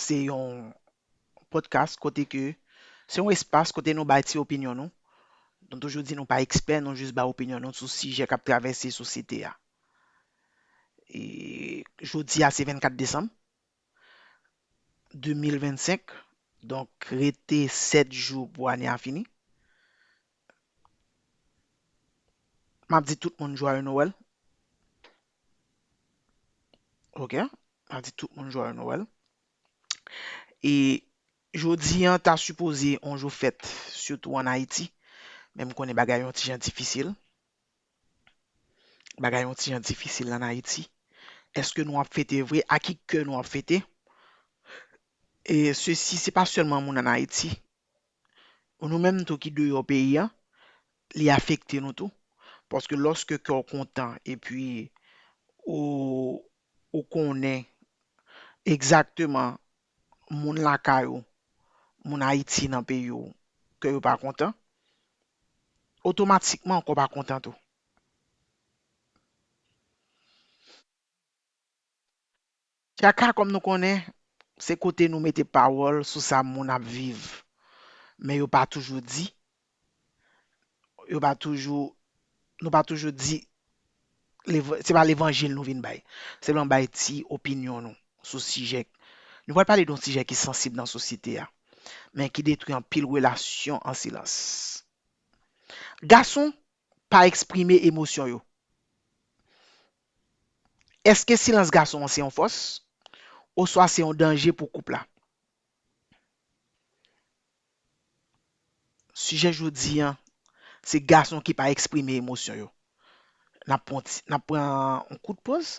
Se yon podcast kote ke se yon espas kote nou bay ti opinyon nou. Nou toujou di nou pa ekspè, nou jis bay opinyon nou sou sijè k ap travèse sosyete a. E jodi a se 24 desanm 2025, donk rete 7 jou pou ane a fini. M ap di tout moun jwaye Nowèl. Ok, a di tout moun joyeux Noël. E jodi an ta sipoze on jou fèt, sitou an Ayiti. Men m konnen bagay yon ti jan difisil. Bagay yon ti jan difisil an Ayiti. Eske nou ap fete vre? A ki kè nou ap fete? E sesi se pa sèlman moun an Ayiti Pou nou menm tou ki deyò peyi an, li afekte nou tou. Paske lòske kè w kontan epi ou konnen egzakteman moun lakay ou, moun Ayiti nan peyi w, kè yo pa kontan, otomatikman kè w pa kontan tou. Tchaka kòm nou konnen, se kote nou mete pawòl sou sa moun ap viv, men yo pa toujou di, yo pa toujou, nou pa toujou di, se pa levanjil nou vin bay, sèlman bay ti opinyon nou sou sijè, nou pral pale doun sijè ki sansib nan sosyete a, men ki detwi anpil relasyon an silans. Gason pa eksprime emosyon yo. Èske silans gason an se yon fòs oswa se yon danje pou koup la? Sijè jodi an se gason ki pa eksprime emosyon yo. N ap pran yon kout poz.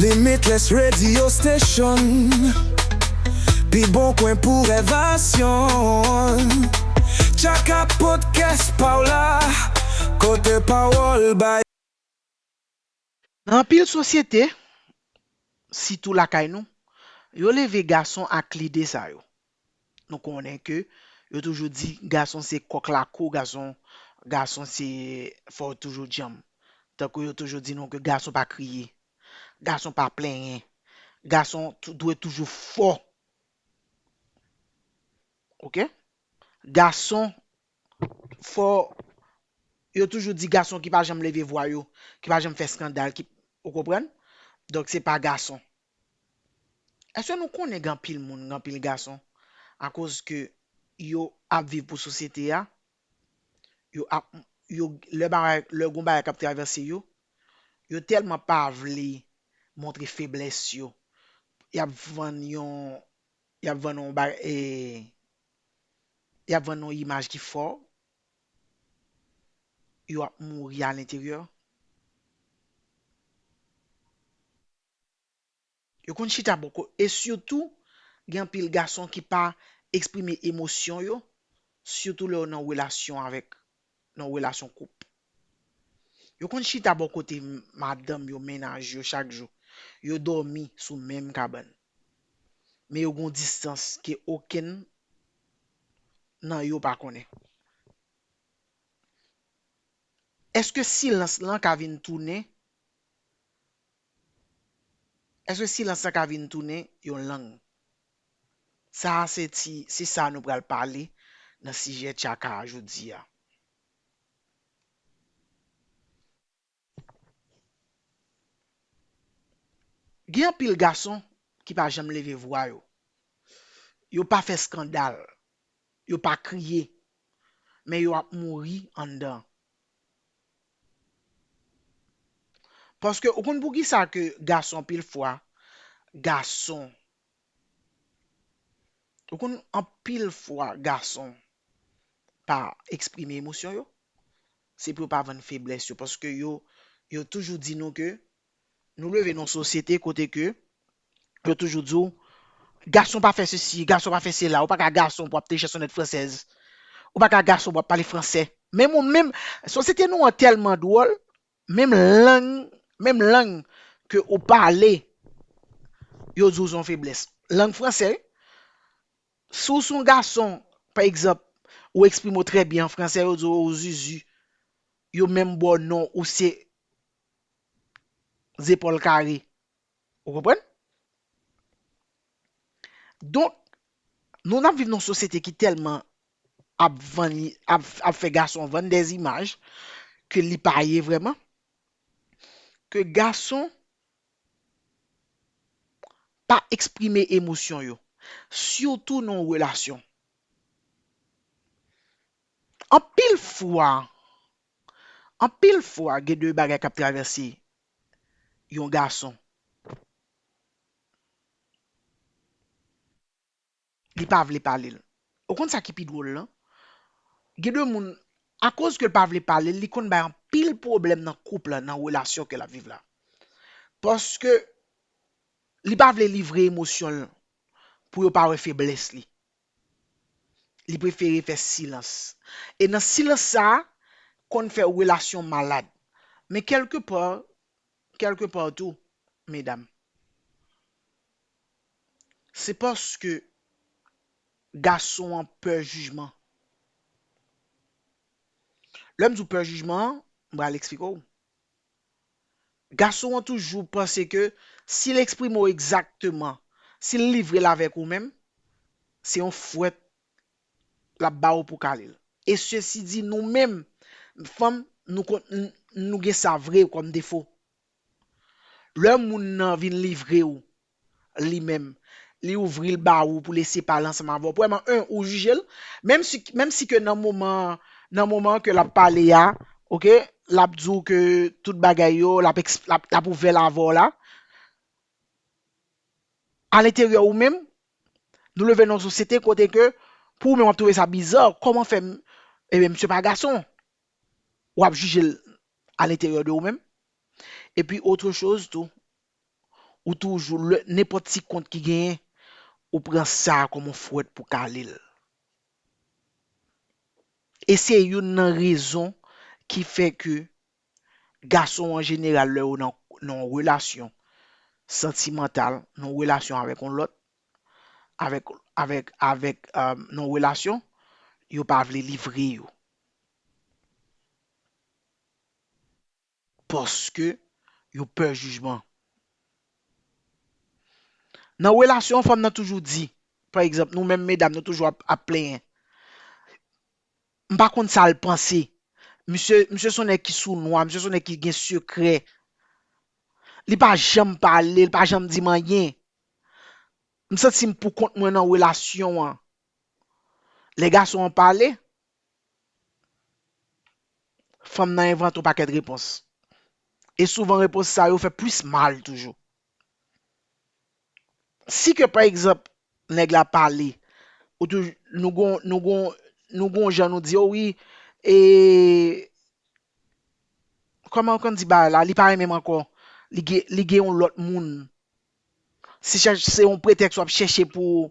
Limitless Radio Station Pi bon kwen pou revasyon Tchaka podcast pa w la Kote pawòl bay. Nan anpil sosyete, sitou lakay nou, yo leve gason ak lide sa yo. Nou konnen ke yo toujou di gason se kòk lakou, gason gason se fò w toujou djanm. Tankou yo toujou di nou ke gason pa kriye, gason pa plenyen, gason dwe toujou fò. Ok. Gason fò, yo toujou di gason ki pa janm leve vwa yo, ki pa janm fè skandal, ki, ou konprann? Donk se pa gason. Eske nou konnen gen anpil moun, gen anpil gason, akoz ke yo ap viv pou sosyete a, yo ap, yo, lè bagay, lè gon bagay kap travèse yo, yo tèlman pa vle montre feblès yo, yap vann yon, yap vann yon ba, e, yap vann yon imaj ki fo, yo ap mouri a lenteryè. Yo konn chita bò kot e sitou gen anpil gason ki pa eksprime emosyon yo sitou lè yo nan relasyon avèk nan relasyon koup. Yo konn chita bò kote madanm yo, mennaj yo chak jou. Yo dòmi sou menm kabann. Men yo gen yon distans ke okenn nan yo pa konnen. Eske silans lan ka vin tounen Èske silans lan ka vin tounen yon lang? Sa a se ti se sa nou pral pale nan sijè Tchaka a jodi a. Gen anpil gason ki pa janm leve vwa yo. Yo pa fè skandal. Yo pa kriye. Men yo ap mouri anndan. Paske ou konn poukisa ke gason anpil fwa gason ou konn anpil fwa gason pa eksprime emosyon yo se pou yo pa vann feblès yo paske yo yo toujou di nou ke Nou leve nan yon sosyete kote ke yo toujou di w, gason pa fè sesi, gason pa fè sela, ou pa ka gason pou w ap te chèsonnèt fransèz, ou pa ka gason pou w ap pale fransè. Menm ou menm, sosyete nou an tèlman dwòl, menm lang, menm lang ke ou pale, yo di w se yon feblès. Lang fransè wi. Si w se yon gason, pa egzanp, ou eksprime w trè byen an fransè, yo di w ou zuzu, yo menm ba w non ou se zepòl kare. Ou konprann? Donk, nou n ap viv nan yon sosyete ki tèlman ap vann, ap fè gason vann dè imaj ke li pa ye vrèman, ke gason pa eksprime emosyon yo, sitou nan yon relasyon. Anpil fwa, Anpil fwa gen de bagay kap travèse yon gason li pa vle palel ou konn sa ki pi dwol lan gen de moun akoz kel pa vle palel li konn bay anpil pwoblèm nan koup la nan relasyon ke lap viv la paske li pa vle livre emosyonl pou yo pa wè feblès li. Li prefere fè silans. E nan silans sa a, konn fè relasyon malad. Men kèlke pa, kèlke pa tou, medam, se paske gason an pè jijman. Lè m di w pè jijman an, m pral esplike w. Gason an toujou panse ke si l eksprime w egzakteman, si l livre l avèk ou menm, se yon fwèt l ap ba ou pou kale l. E sesi di nou menm fanm nou konn nou gen sa vre kòm defo. Lè moun nan vin livre ou li menm li ouvril ba ou pou lese pale ansanm avè w premyèman 1 ou jije l menm si menm si ke nan moman nan moman ke lap pale a ok lap di w ke tout bagay yo lap ekspl lap lap ouvè l avè w la alenteryè ou menm nou leve nan yon sosyete kote ke pou ou menm wap twouve sa biza kòman fè ebyen misye pa gason wap jije l alenteryè de ou menm epi otre choz tou Ou toujou, lè nenpòt ti kont ki genyen, ou pran sa a kòm yon fouwèt pou kale l. E se youn nan rezon ki fè ke gason an jeneral lè yo nan yon relasyon santimantal, nan yon relasyon avèk yon lòt, avèk, avèk, avèk, nan yon relasyon, yo pa vle livre yo. Paske yo pè jijman. Nan relasyon fanm nan toujou di, pa egzanp nou menm medam nou toujou ap plenyen. M pa konn sa l panse. Misye, misye son nèg ki sou nwa, misye son nèg ki gen sekrè. Li pa janm pale, li pa janm di m anyen. M santi m pou kont mwen nan relasyon an. Lè gason an pale, Fanm nan envante yon pakèt repons. E souvan repons sa yo fè plis mal toujou. Si ke pa egzanp nèg la pale, ou tou nou gon nou gon nou gon jan nou di yo wi e kòman ou konn di bagay la li pa renmen m ankò, li gen li gen yon lòt moun. Se yon pretèks w ap chèche pou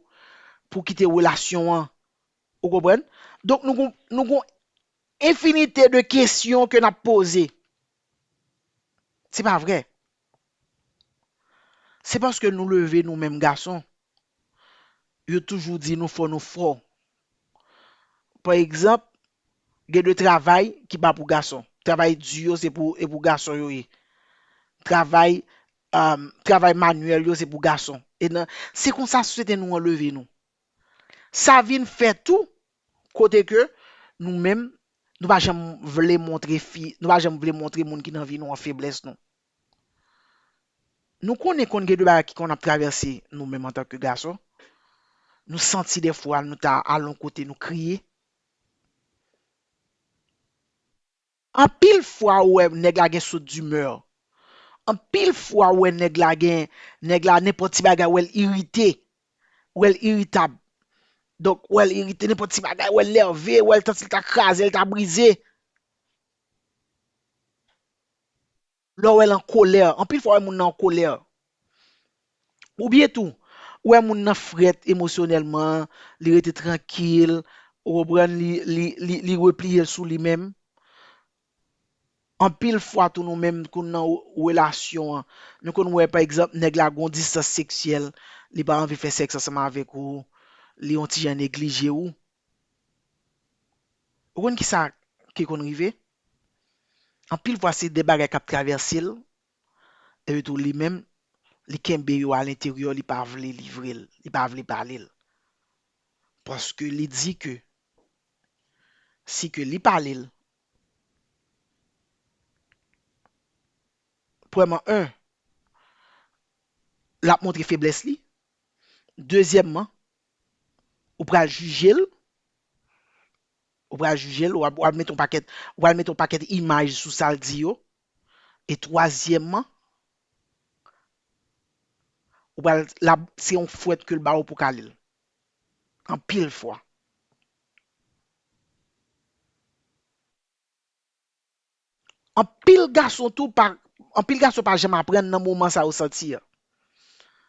pou kite relasyon an. Ou konprann? Donk nou gon, nou gon enfinite de kesyon ke n'ap poze. Se pa vre. Se paske nou leve nou menm gason, yo toujou di nou fò nou fò. Pa egzanp, gen de travay ki pa pou gason. Travay di yo se pou, e pou gason yo ye. Travay, travay manyèl yo se pou gason. E nan, se konsa sosyete nou an leve nou. Sa vin fè tou, kote ke nou menm, nou pa janm vle montre fi, nou pa janm vle montre moun ki nan vi nou an feblès nou. Nou konnen konn gen de bagay ki konn ap travèse nou menm antan ke gason, nou santi de fwa nou ta al yon kote nou kriye. Anpil fwa ou wè nèg la gen saut d'humeur. Anpil fwa ou wè nèg la gen, nèg la nenpòt ti bagay wèl irite, wèl iritab. Donk wèl irite nenpòt ti bagay wèl nève, wèl tansi l ta kraze l ta brize. Lè w wè l an kolè, anpil fwa w wè moun nan an kolè. Oubyen tou, ou wè moun nan frèt emosyonèlman, li rete trankil, ou konprann, li repliye l sou li menm. Anpil fwa tou nou menm kou nan relasyon an, nou konn wè pa egzanp nèg la gen yon distans seksyèl, li pa anvi fè sèks ansanm avèk ou, li yon ti jan neglije ou. Ou konn kisa ki konn rive? Anpil fwa se de bagay k ap travèse l, epi tou li menm li kenbe yo alenteryè li pa vle livre l, li pa vle pale l. Paske li di ke si ke li pale l, premyèman 1 l ap montre feblès li, dezyèmman Ou pral jije l, ou pral jije l, ou pral mete yon pakèt, ou pral mete yon pakèt imaj sou sa l di yo. E twazyèmman, ou pral, l ap, se yon fwèt ke l ba ou pou w ka li l. Anpil fwa. Anpil gason tou pa anpil gason pa janm aprann nan moman sa yo santi an.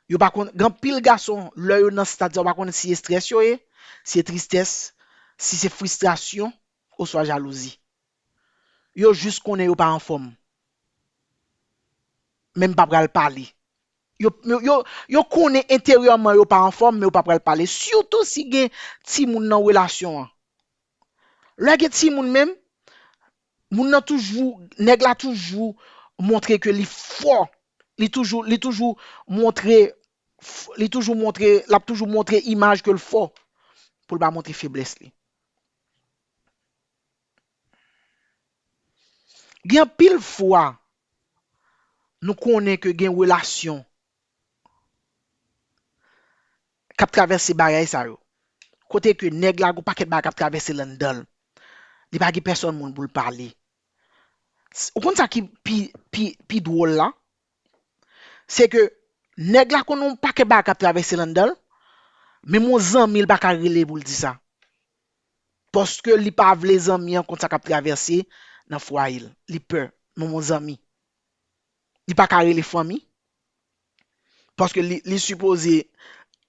Yo pa konn gen anpil gason lè yo nan stad sa yo pa konnen si estrès yo ye, si se tristès, si se fristrasyon oswa jalouzi. Yo jis konnen yo pa anfòm. Men m pa pral pale. Yo yo yo konnen enteryèman yo pa anfòm men yo pa pral pale sitou si gen timoun nan relasyon an. Lè gen timoun menm, moun nan toujou, nèg la toujou montre ke li fò, li toujou, li toujou montre, li toujou montre, l ap toujou montre imaj ke l fò pou l pa montre feblès li. Gen anpil fwa nou konnen ke gen relasyon kap travèse bagay sa yo, kote ke nèg la gon pakèt bagay kap travèse landanl, li pa gen pèsòn moun poul pale. Ou konn sa ki pi dwòl la? Se ke nèg la konn gon pakèt bagay kap travèse landanl, menm yon zanmil paka rele poul di sa. Paske li pa vle zanmi an konn sa kap travèse nan fwayel, li pè menm yon zanmi. li pa ka rele fanmi paske li sipoze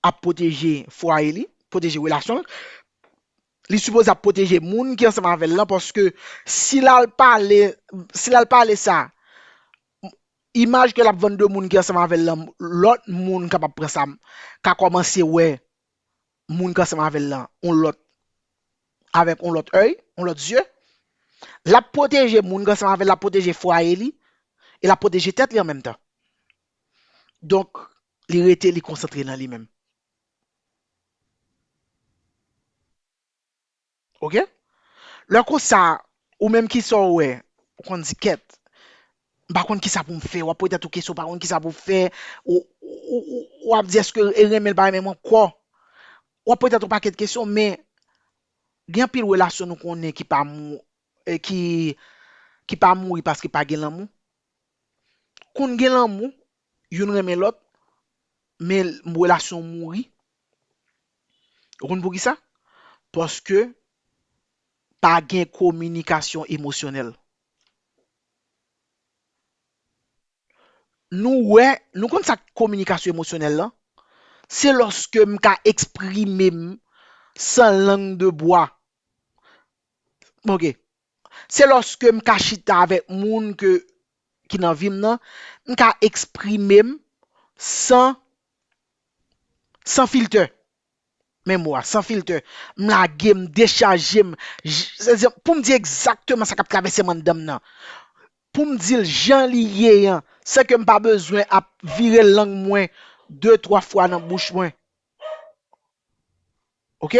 ap pwoteje fwaye li, pwoteje relasyon l, li sipoze ap pwoteje moun ki ansanm avè l lan paske si l al pale, si l al pale sa imaj ke l ap vann de moun ki ansanm avè l lan lòt moun kapab pran sa ka kòmanse wè moun ki ansanm avè l lan yon lòt avèk yon lòt èy, yon lòt zye. L ap pwoteje moun ki ansanm avè l, l ap pwoteje fwaye li e l ap pwoteje tèt li an menm tan. Donk, li rete li konsantre nan li menm. Ok lè konsa ou menm kisa ou wè ou konn di kèt m pa konn kisa pou m fè wap poze tèt ou kesyon ou pa konn kisa pou fè ou ap di eske e renmen l pa renmen m ankò wap poze tèt ou pakèt kesyon men gen anpil relasyon nou konnen ki pa mou ki ki pa mouri paske pa gen lanmou konn gen lanmou youn renmen lòt men relasyon mouri ou konn poukisa paske pa gen kominikasyon emosyonèl nou wè nou konn sa kominikasyon emosyonèl lan se lòske m ka eksprime m san lang de bwa ok. Se lòske m ka chita avèk moun ke ki nan vi m nan, m ka eksprime m san san filtè. Men mo a, san filtè. M lage, m dechaje m. Pou m di egzakteman sa k ap travèse m anndan m nan. Pou m di l jan li ye an, san ke m pa bezwen ap vire lang mwen de twa fwa nan bouch mwen. Ok?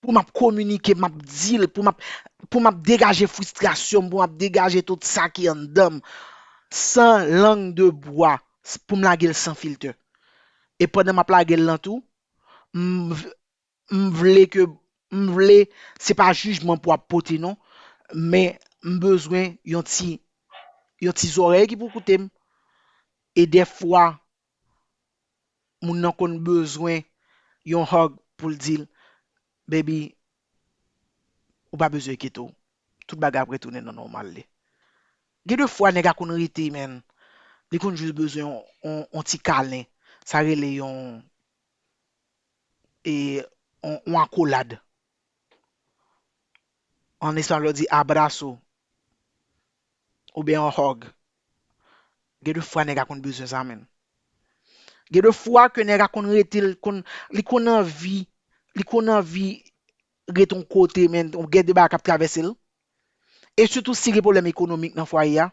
pou map kominike map dil pou map pou map degaje fristrasyonm pou map degaje tout sa ki anndanm san lang de bwa poum lagel san filtè e pandan map lagel lan tou m m vle ke m vle se pa jijman pou ap pote non men m bezwen yon ti yon ti zòrèy ki pou koutem e dèfwa. moun nan konn bezwen yon hug poul dil baby ou pa bezwen enkyete'w tout bagay ap retounen nan nòmal li gen de fwa nèg a konn rete menn li konn jis bezwen yon ti kalen sa rele yon e yon akolad. An espanol yo di abrazo oubyen yon hug. Gen de fwa nèg a konn bezwen sa menn. Gen de fwa ke nèg a konn rete l konn li konn anvi li konn anvi ret yon kote men gen de bagay k ap travèse l e sitou si gen pwoblèm ekonomik nan fwaye a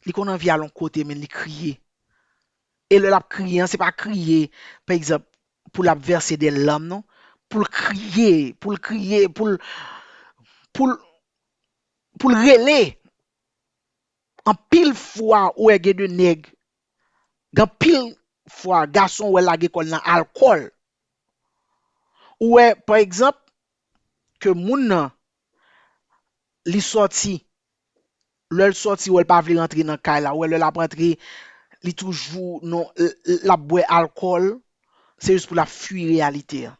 Li konn anvi al yon kote men li kriye. E lè l ap kriye an, se pa kriye, pa egzanp, pou l ap vèse dè làm non. Pou l kriye, pou l kriye, pou l, pou l, pou l rele. Anpil fwa ou wè gen de nèg, gen anpil fwa gason ou wè lage kò l nan alkòl. Ou wè, pa egzanp, ke moun nan li sòti, lè l sòti wè l pa vle rantre nan kay la, wè lè l ap rantre li toujou nan, l ap bwè alkòl, se jis pou l ap fui reyalite an.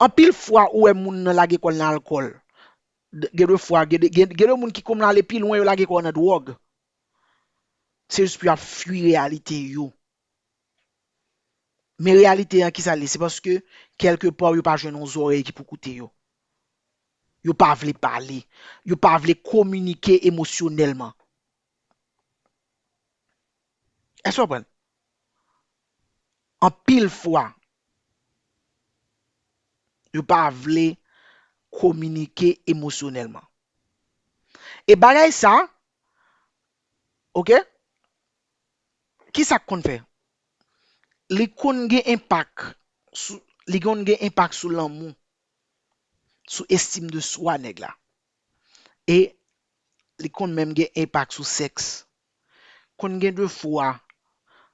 Anpil fwa ou wè moun nan lage kò l nan alkòl, gen de fwa, gen de moun ki kòmn ale pi lwen yo lage kò yo nan dwòg, se jis pou y ap fui reyalite yo. Men reyalite an kisa l ye se paske kèlke pa yo pa jwenn yon zòrèy ki pou koute yo. Yo pa vle pale, yo pa vle kominike emosyonèlman. Èske w konprann? Anpil fwa yo pa vle kominike emosyonèlman. E bagay sa, ok. Kisa k konn fè? Li konn gen enpak sou, li konn gen enpak sou lanmou, sou estime de soi nèg la. E li konn menm gen enpak sou sèks. Konn gen de fwa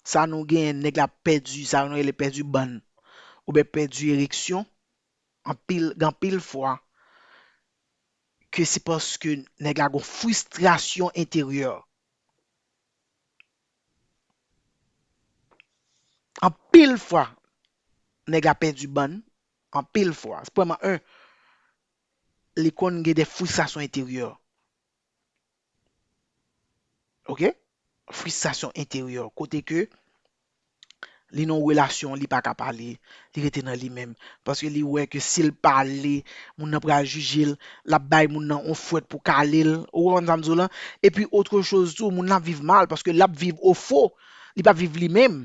sa nou genyen nèg la pèdi sa nou rele pèdi bann oubyen pèdi ereksyon anpil gen anpil fwa ke se paske nèg la gon fristrasyon enteryè. Anpil fwa nèg la pèdi bann, anpil fwa. Premyèman 1, li konn gen de fristasyon enteryè. Ok, fristasyon enteryè kote ke. li nan yon relasyon li paka pale li rete nan li menm paske li wè ke sil pale moun nan pral jijel lap bay moun nan yon fwet pou kalel ou konprann sam diw lan epi otre choz tou moun nan ap viv mal paske lap viv ofo li pap viv li menm.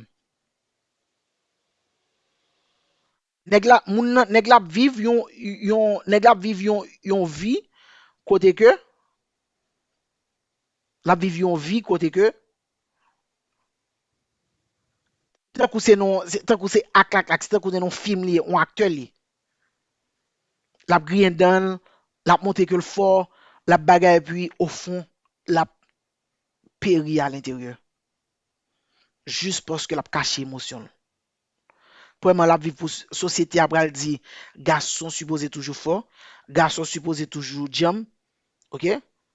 Nèg la, moun nan, nèg la ap viv yon, yon, nèg la ap viv yon, yon vi kote ke, l ap viv yon vi kote ke, tankou se nan yon, se tankou se ak ak ak, se tankou se nan yon fim li ye, yon aktè li ye. L ap griyen dan l, l ap montre ke l fò, l ap bagay epi ofon l ap peri alenteryè jis paske l ap kache emosyon l. Premyèman lap viv pou sosyete a pral di gason sipoze toujou fò, gason sipoze toujou djanm ok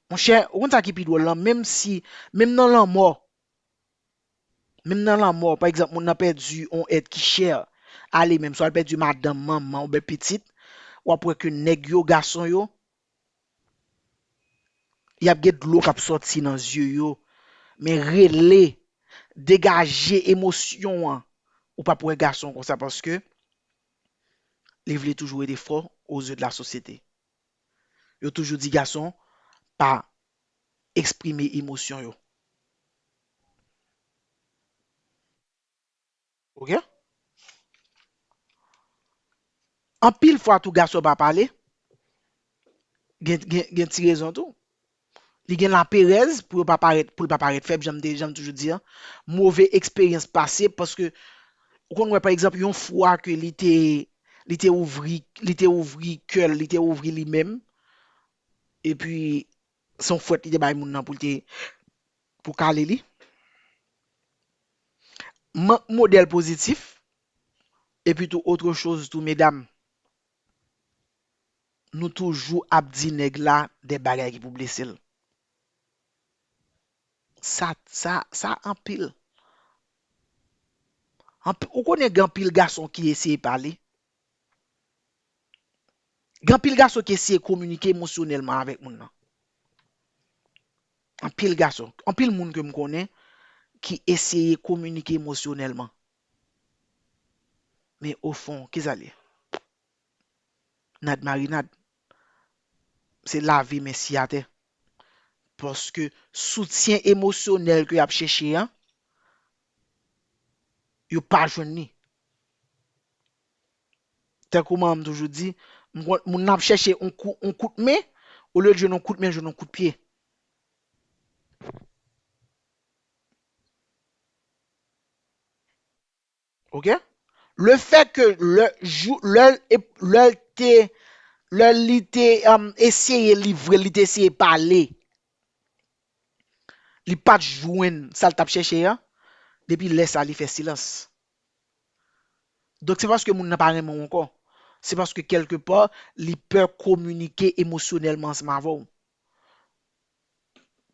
monchè ou konn sa ki pi dwòl lan menm si menm nan lanmò menm nan lanmò pa egzanp moun nan pèdi on èt ki chè a li menm swa li pèdi madanm, manman oubyen pitit wap wè ke nèg yo gason yo Y ap gen dlo k ap sòti nan zye yo, men rele, degaje emosyon an, ou p ap wè gason konsa paske li vle toujou rete fò ozye de la sosyete. Yo toujou di gason pa eksprime emosyon yo. Ok. Anpil fwa tou gason pa pale gen ti rezon tou. Li gen laperèz pou yo pa parèt, pou l pa parèt fèb janm te, janm toujou di an. Move eksperyans pase paske ou konn wè pa egzanp yon fwa ke li te li te ouvri, li te ouvri kè l, li te ouvri li menm epi Se yon fwèt li te bay moun nan pou l te pou kale li. Mank modèl pozitif epi tou otre choz tou medam nou toujou ap di nèg la de bagay ki pou blese l. Sa sa sa anpil. Anpi ou konnen gen anpil gason ki eseye pale Gen anpil gason ki eseye kominike emosyonèlman avèk moun nan. Anpil gason, anpil moun ke m konnen ki eseye kominike emosyonèlman. Men o fon, ki sa l ye? Nad marinad. Se lave men siye atè. Paske soutyen emosyonèl ke y ap chèche an, yo pa jwenn li. Tankou manman m toujou di, m konn moun nan ap chèche on kou, on kout men, olye l jwenn on kout men, l jwenn on kout pye. Ok? Le fè ke lè jou, lè l, lè l te, lè li te eseye livre l, li te eseye pale Li pa t jwenn sa l t ap chèche an, depi lè sa li fè silans. Donk se pa paske moun nan pa renmen w ankò, se paske kèlke pa li pè kominike emosyonèlman ansanm avè w.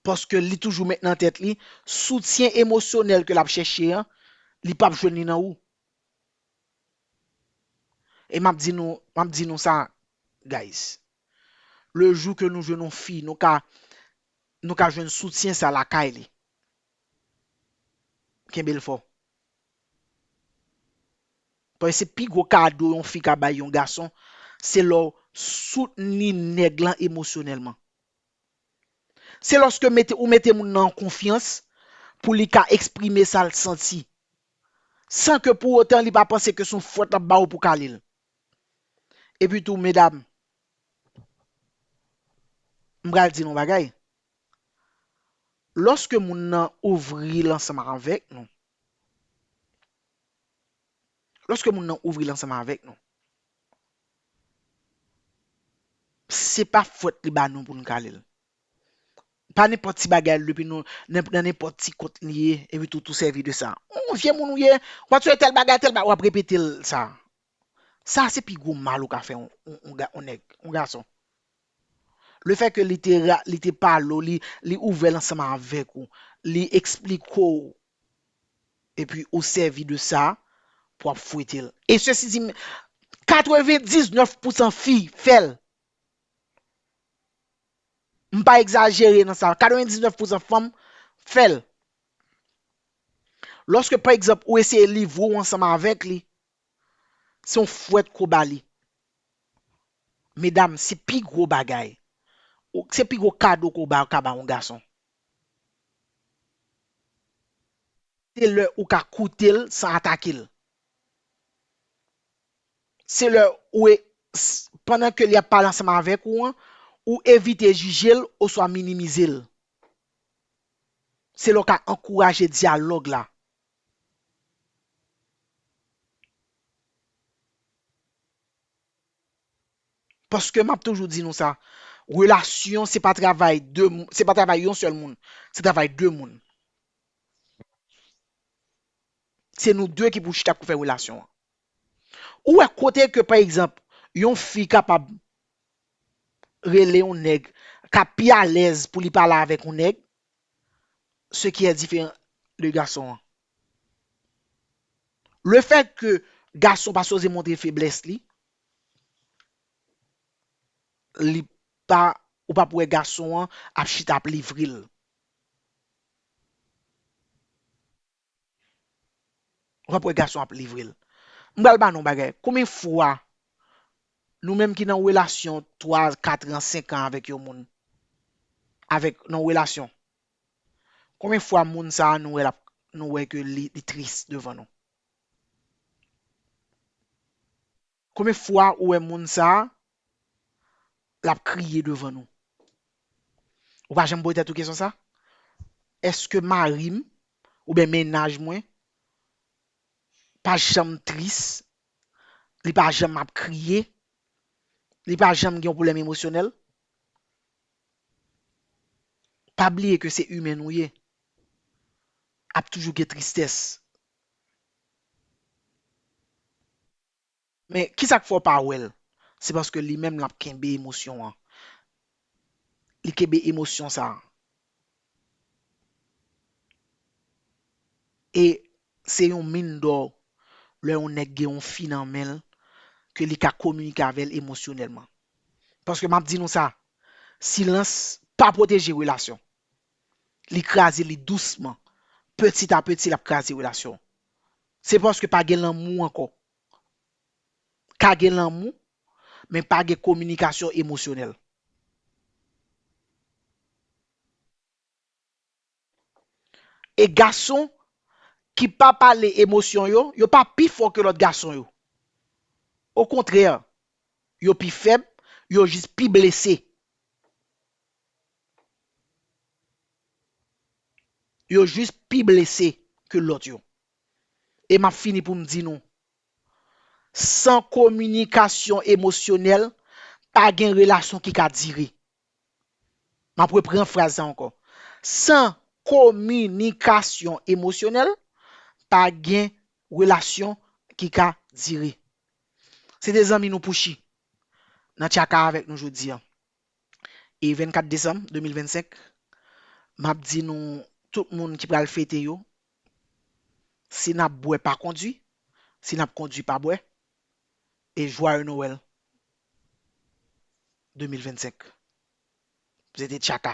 Paske li toujou met nan tèt li, soutyen emosyonèl ke l ap chèche an, li p ap jwenn li nan ou. E m ap di nou, m ap di nou sa guys. Le jou ke nou jwenn yon fi, nou ka nou ka jwenn soutyen sa lakay li. Kenbe l fò. Paske se pi gwo kado yon fi ka bay yon gason, se lè w soutni nèg lan emosyonèlman. Se lòske mete ou mete moun nan an konfyans pou li ka eksprime sa l santi. San ke pou otan li pa panse ke se yon fwèt l ap ba ou pou w kale l. Epi tou medam, m pral di nou yon bagay, lòske moun nan ouvri l ansanm avèk nou, lòske moun nan ouvri l ansanm avèk nou, se pa fwèt li ba nou pou nou kale l. Pa nenpòt ti bagay l depi nou nan nenpòt ti kont li ye epi tou tou sèvi de sa. Ou vye moun ou ye, w ap swe tèl bagay, tèl bagay, w ap repete l sa. Sa se pi gwo mal ou ka fè yon nèg, yon gason. Le fè ke li te ra, li te pale w, li ouvè l ansanm avèk ou, li eksplike w epi ou sèvi de sa pou w ap fwete l. E sesi di m, 99 pousan fi fè l. M pa egzajere nan sa. 99 pousan fanm fè l. Lòske pa egzanp ou eseye livre ou ansanm avèk li, se yon fwèt ke w ba li. Medam, se pi gwo bagay. Se pi gwo kado ke w ba, ka ba yon gason. Se lè ou ka koute l san atake l. Se lè ou e, s, pandan ke li ap pale ansanm avèk ou an, ou evite jije l oswa minimize l. Se lè w ka ankouraje dyalòg la. Paske m ap toujou di nou sa, relasyon se pa travay de, se pa travay yon sèl moun, se travay de moun. Se nou de ki pou chita pou fè relasyon an. Ou wè kote ke pa egzanp yon fi kapab rele yon nèg ka pi alèz pou li pale avèk yon nèg se ki è diferan de gason an. Le fèt ke gason pa sipoze montre feblès li, li pa, ou pap wè gason an ap chita ap livre l. wap wè gason ap livrel m pral ba nou yon bagay konbyen fwa nou menm ki nan relasyon 3 katran 5 an avèk yon moun avèk nan relasyon konbyen fwa moun sa nou wè lap nou wè ke li tris devan nou. Konbyen fwa ou wè moun sa lap kriye devan nou? Ou pa janm poze tèt ou kesyon sa? Eske marim oubyen mennaj mwen pa janm tris, li pa janm ap kriye, li pa janm gen yon pwoblèm emosyonèl? Pa bliye ke se imen nou ye, ap toujou gen tristès. Men kisak fè w pa wèl se paske li menm lap kenbe emosyon an li kenbe emosyon sa e se yon min dò lè yon nèg gen yon fi nan menl ke li ka kominike avèl emosyonèlman paske map di nou sa silans pa pwoteje relasyon li kraze li dousman petit a petit lap kraze relasyon Se paske pa gen lanmou ankò. Ka gen lanmou, men pa gen kominikasyon emosyonèl. E gason ki pa pale emosyon yo, yo pa pi fò ke lòt gason yo. Okontrè, yo pi fèb, yo jis pi blese. Yo jis pi blese ke lòt yo. E map fini pou m di nou, san kominikasyon emosyonèl, pa gen relasyon ki ka dire. Map repran fraz sa ankò, san kominikasyon emosyonèl, pa gen relasyon ki ka dire. Se te zanmi nou Pouchi nan tchaka avèk nou jodi an. e 24 desanm 2025 map di nou tout moun ki pral fete yo si nap bwè pa kondwi si nap kondwi pa bwè e jwaye nowèl 2025 se te tchaka.